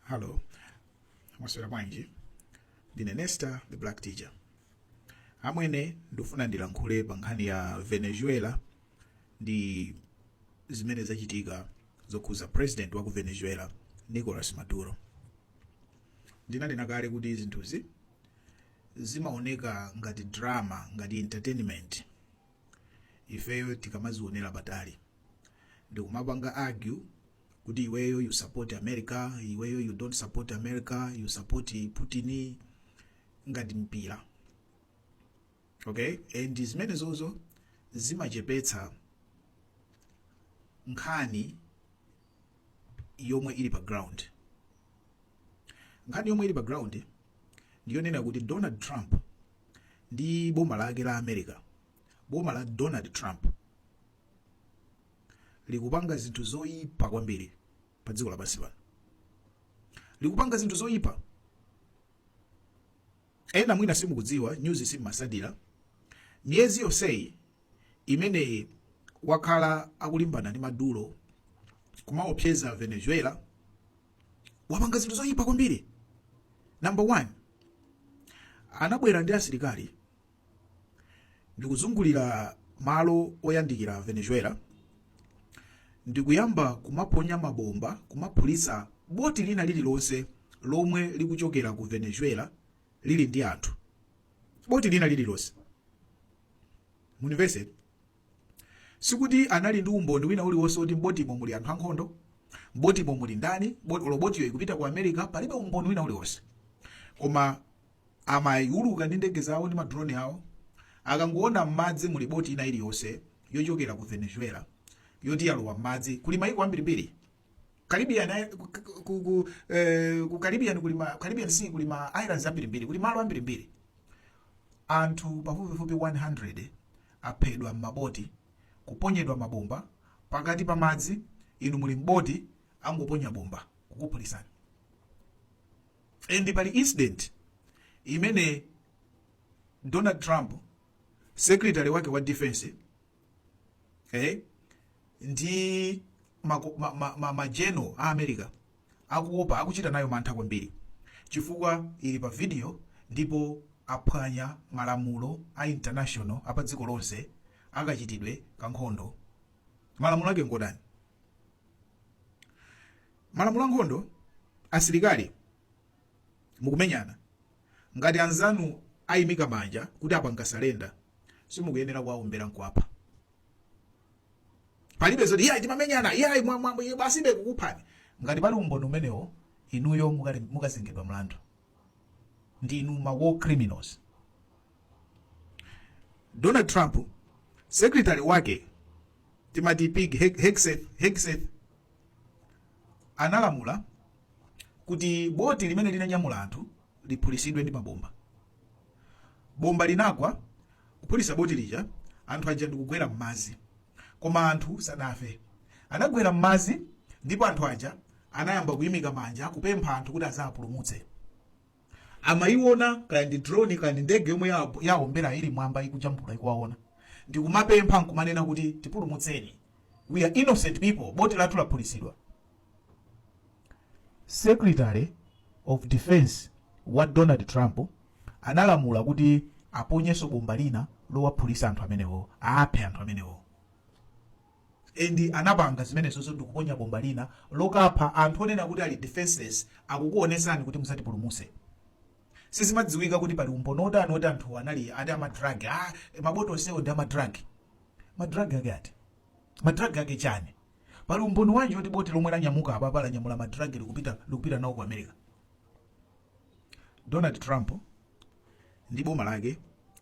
halo mwaswera bwanji ndine nesta the black teacher amwene ndifuna ndilankhule pa nkhani ya venezuela ndi zimene zachitika zokhuza president wa ku venezuela nicolas maduro ndinanena kale kuti zinthuzi zimaoneka ngati drama ngati entertainment ifeyo tikamazionera patali ndikumapanga argue kuti iweyo you support america iweyo you don't support america you support putin ngati mpira okay and zimenezozo zimachepetsa nkhani yomwe ili pa ground nkhani yomwe ili pa ground ndiyonena kuti donald trump ndi boma lake la america boma la donald trump likupanga zinthu zoyipa kwambiri pa dziko lapansi pano likupanga zinthu zoyipa ena mwina simukudziwa nyuzi simmatsatira miyezi yonseyi imene wakhala akulimbana ndi maduro kumaopseza venezuela wapanga zinthu zoyipa kwambiri number one anabwera ndi asilikali ndikuzungulira malo oyandikira venezuela ndikuyamba kumaponya mabomba kumaphulitsa boti lina lililonse lomwe likuchokera ku venezuela lili ndi anthu boti lina lililonse mundimvetsetse sikuti anali ndi umboni wina uliwonse woti mbotimo muli anthu ankhondo mbotimo muli ndani bot- olo botiyo ikupita ku america palibe umboni wina uliwonse koma Amauluka ndi ndege zawo ndi ma drone awo. Akangoona mmadzi muli boti ina iliyonse yochokera ku Venezuela yoti yalowa mmadzi, kuli maiko ambirimbiri Caribbean, ku, ku, eh, ku Caribbean kuli ma, Caribbean Sea kuli ma islands ambirimbiri, kuli malo ambirimbiri. Anthu pafupifupi 100 aphedwa mmaboti, kuponyedwa mabomba pakati pa madzi, inu muli m'boti angoponya bomba kukuphulitsani. and pali incident imene donald trump secretary wake wa defense eh, ndi mako- ma- ma- ma- majeno a america akuopa akuchita nayo mantha kwambiri chifukwa ili pa video ndipo aphwanya malamulo a international apa dziko lonse akachitidwe ka nkhondo malamulo ake ngotani malamulo ankhondo asilikali mukumenyana ngati anzanu ayimika manja kuti apanga surrender simukuyenera kuwaombera nkuwapha palibe zoti iyayi timamenyana iyayi mwa- mwa- mwa- basibe kukuphani ngati pali umboni umenewo inuyo mukali- mukazengedwa mlandu ndinu ma war criminals donald trump secretary wake timati Pete He- Hegseth Hegseth analamula kuti boti limene linanyamula anthu liphulisidwe ndi mabomba bomba linagwa kuphulisa boti lija anthu aja ndikugwera m'madzi koma anthu sadafe anagwera m'madzi ndipo anthu aja anayamba kuyimika manja kupempha anthu kuti azapulumutse amayiona kaya ndi drone kaya ndi ndege yomwe ya- yaombera ili mwamba ikujambula ikuwaona ndikumapempha nkumanena kuti tipulumutseni we are innocent people boti lathu laphulisidwa secretary of defense wa donald trump analamula kuti aponyenso bomba lina lowaphulisa anthu amenewo aphe anthu amenewo and anapanga zimenezo ndikuponya bomba lina lokapha anthu onena kuti ali defenceless akukuonesani kuti muzatipulumuse sizimadziwika kuti pali umboni wotani woti anthu anali ati a ma drug ah, maboto onsewo ndi a ma drug ma drug ake ati ma drug ake chani pali umboni wanji woti boti lomwe lanyamuka apapa lanyamula ma drug likupita, likupita nawo ku america donald trump ndi boma lake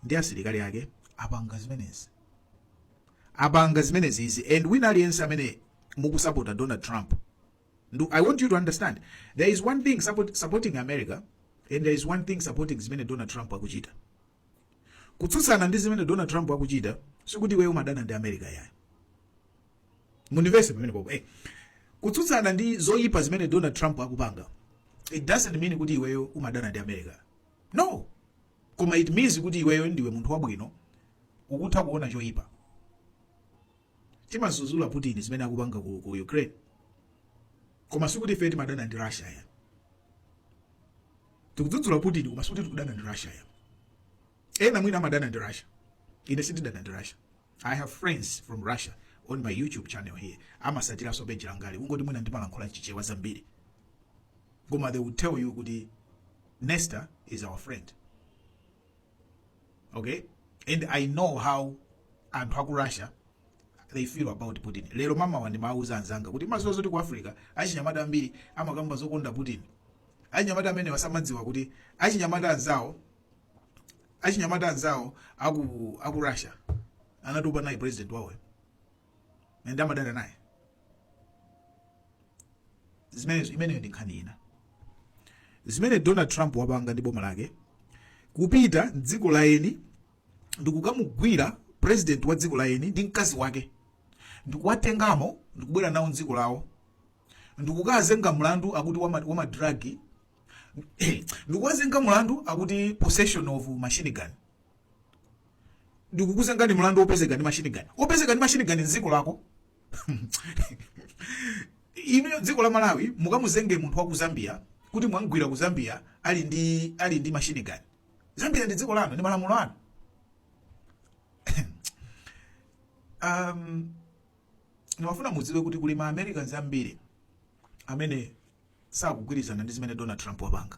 ndi asilikali ake apanga zimenezi apanga zimenezizi and wina aliyense amene mukusapota donald trump Ndu, i want you to understand there is one thing support, supporting america and there is one thing supporting zimene donald trump akuchita kutsutsana ndi zimene donald trump akuchita sikuti iweyo umadana ndi america yayi mundivese pamenepopo eh. kutsutsana ndi zoyipa zimene donald trump akupanga it doesn't mean kuti iweyo umadana ndi america no koma it means kuti iweyo ndiwe munthu wabwino ukutha kuona choipa timazuzula putin zimene akupanga ku, ku ukraine koma sikuti ife timadana ndi russia ya tikudzudzula putin koma sikuti tikudana ndi russia ya ena mwina amadana ndi russia ine sindidana ndi russia i have friends from russia on my youtube channel here amasatiranso peji langali ungoti mwina ndimalankhula chichewa zambiri koma they will tell you kuti nesta is our friend okay and i know how anthu aku russia they feel about putin lero mmamawa ndimawuza anzanga kuti mukudziwa zoti ku africa achinyamata ambiri amakamba zokonda putin achinyamata amenewa samadziwa kuti achinyamata anzawo achinyamata anzawo aku, aku russia anatopa naye president wawoyo and amadana naye zimenezo imeneyo ndi nkhani ina zimene donald trump wapanga ndi boma lake kupita mdziko la eni ndikukamugwira president wa dziko la eni ndi mkazi wake ndikuwatengamo ndikubwera nawo mdziko lawo ndikukazenga mlandu akuti wama- wa ma drug ndikuwazenga mlandu akuti possession of machine gun ndikukuzengani mlandu opezeka ndi machine gun opezeka ndi machine gun mdziko lako inuyo dziko la malawi mukamuzenge munthu wa ku zambia kuti mwamgwira ku zambia ali ndi ali ndi machine gun zambia ndi dziko lanu ndi malamulo anu um, ndimafuna mudziwe kuti kuli ma americans ambiri amene sakugwirizana ndi zimene Donald Trump wapanga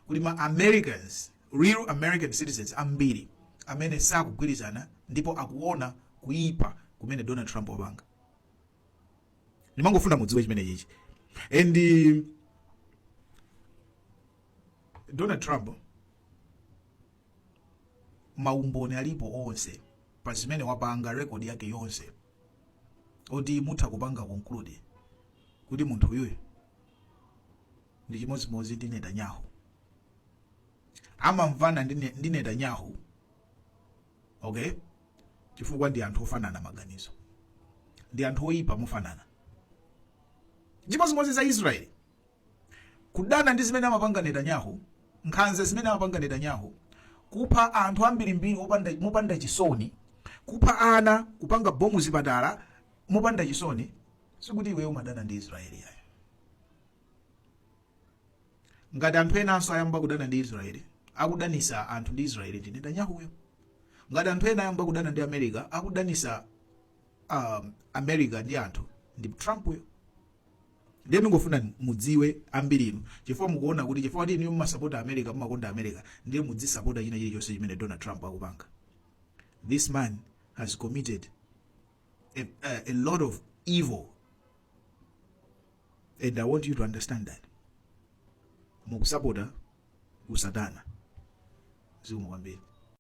kuli ma Americans real American citizens ambiri amene sakugwirizana ndipo akuona kuipa kumene Donald Trump wapanga ndimangofuna mudziwe chimenechichi and uh, Donald Trump maumboni alipo onse pa zimene wapanga rekodi yake yonse oti mutha kupanga conclude kuti munthu uyuyu ndi chimodzimodzi ndi Netanyahu amamvana ndi Ne- ndi Netanyahu okay chifukwa ndi anthu ofanana maganizo ndi anthu oyipa mofanana chimodzimodzi za Israeli Kudana ndi zimene amapanga Netanyahu, nkhanza zimene amapanga Netanyahu, kupha anthu ambirimbiri opanda, mopanda chisoni, kupha ana, kupanga bomu zipatala mopanda chisoni, sikuti iweyo umadana ndi Israeli yayo. Ngati anthu enanso ayamba kudana ndi Israeli, akudanisa anthu ndi Israeli ndi Netanyahuyo. Ngati anthu ena ayamba kudana ndi America, akudanisa um, America ndi anthu ndi Trumpuyo. ndiye ndingofuna mudziwe ambirinu chifukwa mukuona kuti chifukwa kuti inu mumasapota america mumakonda america ndiye mudzisapota china chilichonse chimene donald trump akupanga this man has committed a, a, a lot of evil and i want you to understand that mukusapota usatana zikomo kwambiri